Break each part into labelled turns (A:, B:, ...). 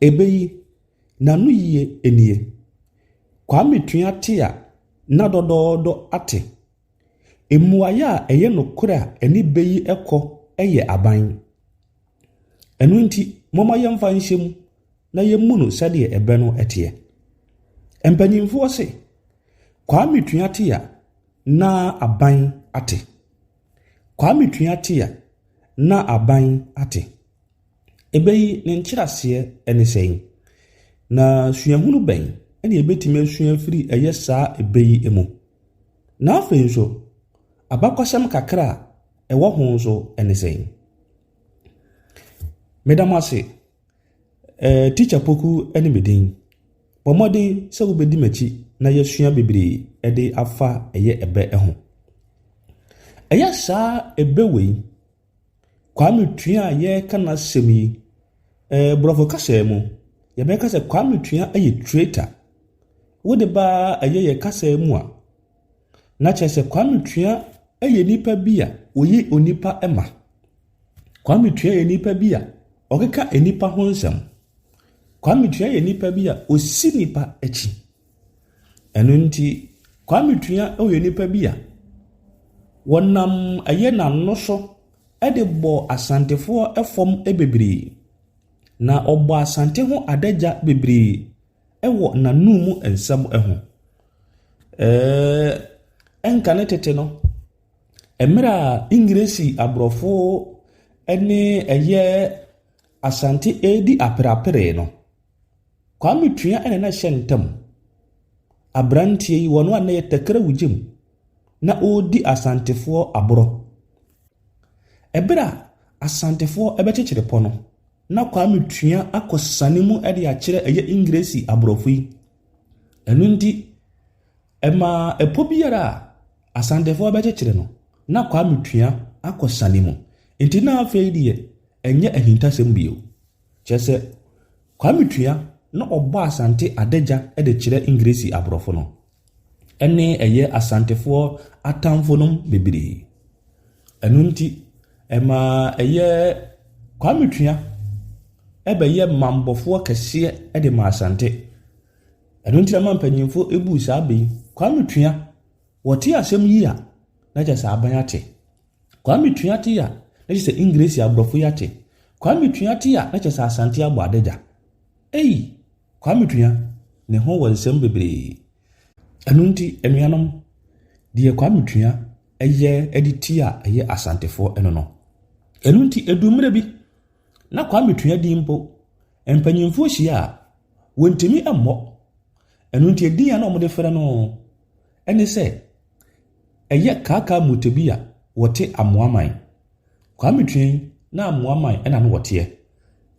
A: Ɛbɛ yi, n'anoyie nie. Kwame tua te a na dɔdɔɔdɔ ate. Mmuaeɛ a ɛyɛ nokorɛ a ɛne bɛ yi kɔ yɛ aban. Ɛno nti, momma yɛmfa nhyɛ mu na yɛmmu no sɛdeɛ ɛbɛ no teɛ. Mpanimfoɔ se, Kwame tua te a na aban ate. Kwame tua te a na aban ate. Ɛbɛ yi ne nkyerɛaseɛ ne sɛn, na suahunu bɛn na yɛbɛtumi asua afiri ɛyɛ saa ɛbɛ yi mu? Na afei nso, abakɔsɛm kakra a ɛwɔ ho nso ne sɛn? Meda mo ase. Ɛɛ Tikya Poku ne me din. Bɔ mmɔden sɛ wobɛdi m'akyi na yɛasua bebree de afa ɛyɛ ɛbɛ ho. Ɛyɛ saa ɛbɛ wei Kwame Tua a yɛreka n'asɛm yi, eh, borɔfo kasa mu, yɛbɛka sɛ Kwame Tua yɛ traitor. Wode ba ɛyɛ yɛ kasa mu a, na kyerɛ sɛ Kwame Tua yɛ nipa bi a ɔyi onipa ma. Kwame Tua yɛ nipa bi a ɔkeka nipa ho nsɛm. Kwame Tua yɛ nipa bi a ɔsi nipa akyi. Ɛno nti, Kwame Tua yɛ nipa bi a ɔnam ɛyɛ n'ano so de bɔɔ Asantefoɔ fam bebree. Na ɔbɔɔ Asante ho adagya bebree wɔ n'anom nsɛm ho. Ɛɛɛɛɛ nka ne tete no, mmerɛ a Engiresi Aborɔfo ne ɛyɛ Asante redi apereapereɛ no. Kwame Tua na na ɛhyɛ ntam. Aberanteɛ yi, ɔno a na ɛyɛ tɛkrɛ wo gyem, na ɔredi Asantefoɔ aborɔ. Ɛberɛ a Asantefoɔ bɛkyekyere pɔ no, na Kwame Tua akɔ sane mu de akyerɛ ɛyɛ Engiresi aborɔfo yi. Ɛno nti, ɛmaa ɛpɔ biara a Asantefoɔ bɛkyekyere no, na Kwame Tua akɔ sane mu. Nti na afei deɛ, ɛnyɛ ahintasɛm bio. Kyerɛ sɛ, Kwame Tua na ɔbɔ Asante adagya de kyerɛ Engiresi aborɔfo no, ɛne ɛyɛ Asantefoɔ atamfo nom bebree. Ɛno nti, ɛma ɛyɛ Kwame Tua bɛyɛ mambɔfoɔ kɛseɛ de ma Asante. Ɛno nti na ma mpanyimfo buu saa bɛ yi, Kwame Tua, wɔte asɛm yi a, na kyerɛ sɛ aban ate. Kwame tua te a na kyerɛ sɛ Engresi abrɔfo yi ate. Kwame tua te a na kyerɛ sɛ Asante abɔ adagya. Ei! Kwame tua, ne ho wɔ nsɛm bebree. Ɛno nti anuanom, deɛ Kwame tua yɛ de ti a ɛyɛ Asantefoɔ ɛno no. Ɛno nti ɛduu mmerɛ bi, na Kwame tua din mpo, mpanyinfoɔ hyia a, wɔntumi mmɔ. Ɛno nti ɛdin a na wɔde frɛ no ne sɛ, Ɛyɛ Kaakaa Mutebi a wɔte Amoaman. Kwame Twien na Amoaman na na wɔteɛ.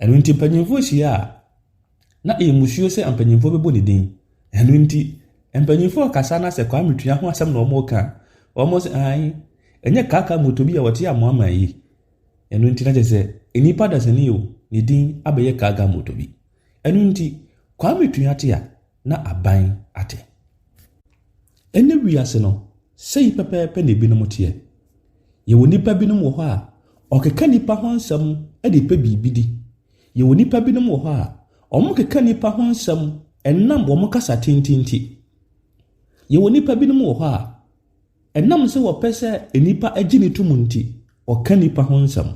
A: Ɛno nti mpanyimfoɔ hyia a, na ɛyɛ musuo sɛ mpanyimfoɔ bɛbɔ ne din. Ɛno nti mpanyimfoɔ kasa na sɛ Kwame Twia ho asɛm na wɔreka a, wɔn sɛ ae, ɛnyɛ Kaakaa Mutebi a wɔte Amoaman yi. Ɛno nti na kyerɛ sɛ nnipa dasani o, ne din abɛyɛ Kaakaa Mutebi. Ɛno nti Kwame Twia te a, na aban ate. Ɛnnɛ wiase no, sei pɛpɛɛpɛ na ebinom teɛ. Yɛwɔ nnipa binom wɔ hɔ a, ɔkeka nnipa ho nsɛm de pɛ biribi di. Yɛwɔ nnipa binom wɔ hɔ a, wɔkeka nnipa ho nsɛm ɛnam wɔn kasa tenten nti. Yɛwɔ nnipa binom wɔ hɔ a, ɛnam sɛ wɔpɛ sɛ nnipa gye ne tom nti, ɔka nnipa ho nsɛm.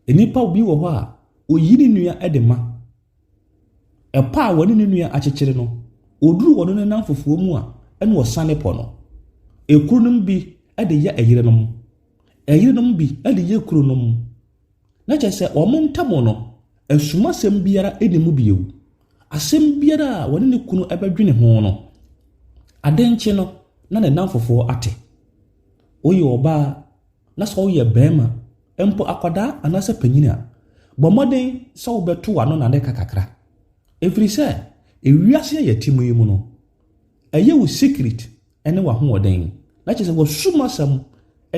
A: Nnipa bi wɔ hɔ a, oyi ne nua de ma. Ɛpɔ a wɔne ne nua akyekyere no, oduru wɔn nenam fofoɔ mu a, ɛna ɔsane pɔ no. Ɛkununom bi de yɛ ɛyerenom, ɛyerenom bi de yɛ kununom. Na kyerɛ sɛ wɔn ntam no, asumasɛm biara nni mu bio. Asɛm biara a wɔne ne kunu bɛdwene ho no, ade nkye no na ne nnamfofoɔ ate. Woyɛ ɔbaa na sɛ woyɛ barima mpo akwadaa anaasɛ panyin a, bɔ mmɔden sɛ wobɛto w'ano na ade ka kakra. Ɛfiri sɛ, ewiase a yɛte mu yi mu no, ɛyɛ wo secret ne w'ahoɔden. Na kyerɛ sɛ wɔsum asɛm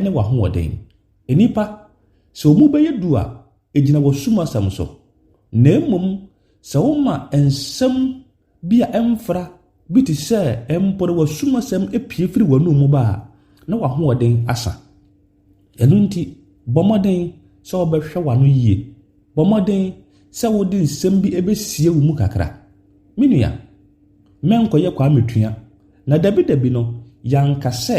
A: ne w'ahoɔden. Nnipa, sɛ wɔn mu bɛyɛ du a, ɛgyina wɔsum asɛm so. Na mmom, sɛ woma nsɛm bi a ɛmfra bi te sɛ mpo na w'asumasɛm apue firi w'anom mu ba a, na w'ahoɔden asa. Ɛno nti, bɔ mmɔden sɛ wobɛhwɛ w'ano yie. Bɔ mmɔden sɛ wode nsɛm bi bɛsie wo mu kakra. Me nua, mɛnkɔyɛ Kwame Tua. Na dabidabi no, yɛanka sɛ